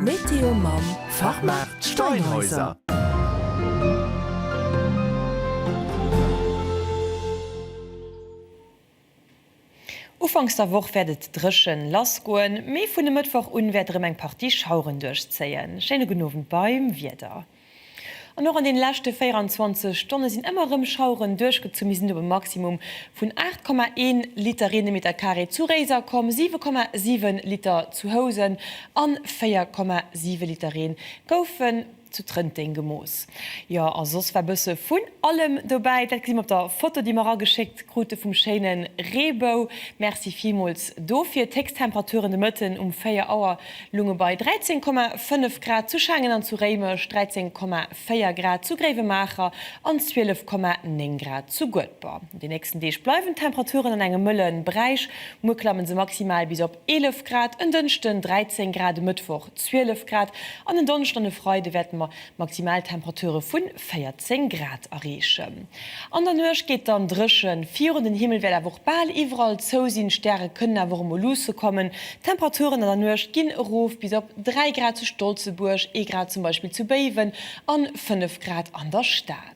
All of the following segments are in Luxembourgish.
Météo mam Fachmaart Steinhäuser. Ufanks der Woch wäert et dréchen lass goen, mee vun e Mëttwoch un wäert erëm eng Partie Schaueren duerchzéien. Schéine gudden Owend beim Wieder. An och an den leschte 24 Stonne sinn ëmmer erëm Schaueren duerchgezu. Mir sinn op e Maximum vun 8,1 Liter Reen de Meter Carré zu Réiser komm, 7,7 Liter zu Housen an 4,7 Liter Reen goufen zu Trënteng gemooss. Jo a soss war bësse vun allem dobäi. Dat gesi mer op der Foto déi mer ageschéckt krute vum schéine Reebou. Merci villmools dofir. D'Héchstemperaturen de Mëtten um 4 Auer Lunge bei 13,5 Grad, zu Schengen an zu Réimech 13,4 Grad, zu Gréiwemaacher an 12,9 Grad zu Guedber. An de nächsten Deeg bleiwen d'Temperaturen an engem mëlle Beräich. Muer klamme se maximal bis op 11 Grad, en Dënschden 13 Grad, e Mëttwoch 12 Grad an en Donneschden an e Freide wäerte mer Maximal Temperature vu 14 Grad erreechen. An der Nuecht geet dann dréchen virun, den Himmel wäert awer och bal iwwerall zou sinn, Stäre kënnen awer och emol luusse kommen. D'Temperaturen an der Nuecht ginn erof bis op 3 Grad zu Stolzebuerg, ee Grad zum Beispill zu Béiwen an 5 Grad an der Stad.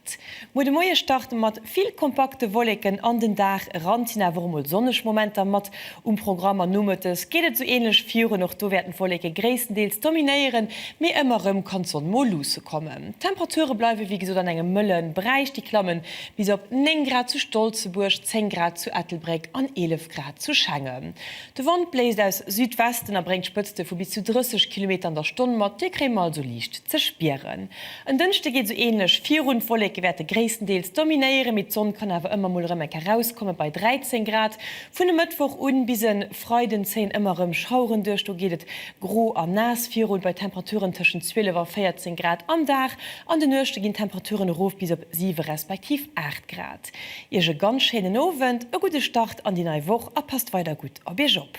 Muer de Moie starte mat vill kompakte Wolleken an den Dag eran, et sinn awer och mol sonneg Momenter mat um Programm an nomëttes geet et esou änlech virun. Och do wäerten d'Wolleke gréisstendeels dominéieren, mee ëmmer rëm kann d'Sonn mol luusse kommen. D'Temperature bleiwe wéi gesot an engem mëlle Beräich, déi klamme bis op 9 Grad zu Stolzebuerg, 10 Grad zu Ettelbréck an 11 Grad zu Schengen. De Wand bléist aus Südwesten a bréngt Spëtzte vu bis zu 30 Kilometer an der Stonn mat, déi kréie mer also liicht ze spieren. En Dënschde geet esou änlech virun. D'Wolleke wäerte gréisstendeels dominéieren, mee d'Sonn kann awer ëmmer mol erëm enk erauskomme bei 13 Grad. Vun e Mëttwoch un bis e Freiden zéien ëmmer erëm Schaueren duerch, do geet et gro a naass virun bei Temperaturen tëschent 12 a 14 Grad. Am Dag an de Nuechte ginn d'Temperaturen erof bis op 7 respektiv 8 Grad. Iech e ganz schéinen Owend, e gudde Start an déi nei Woch a passt weider gutt op iech op.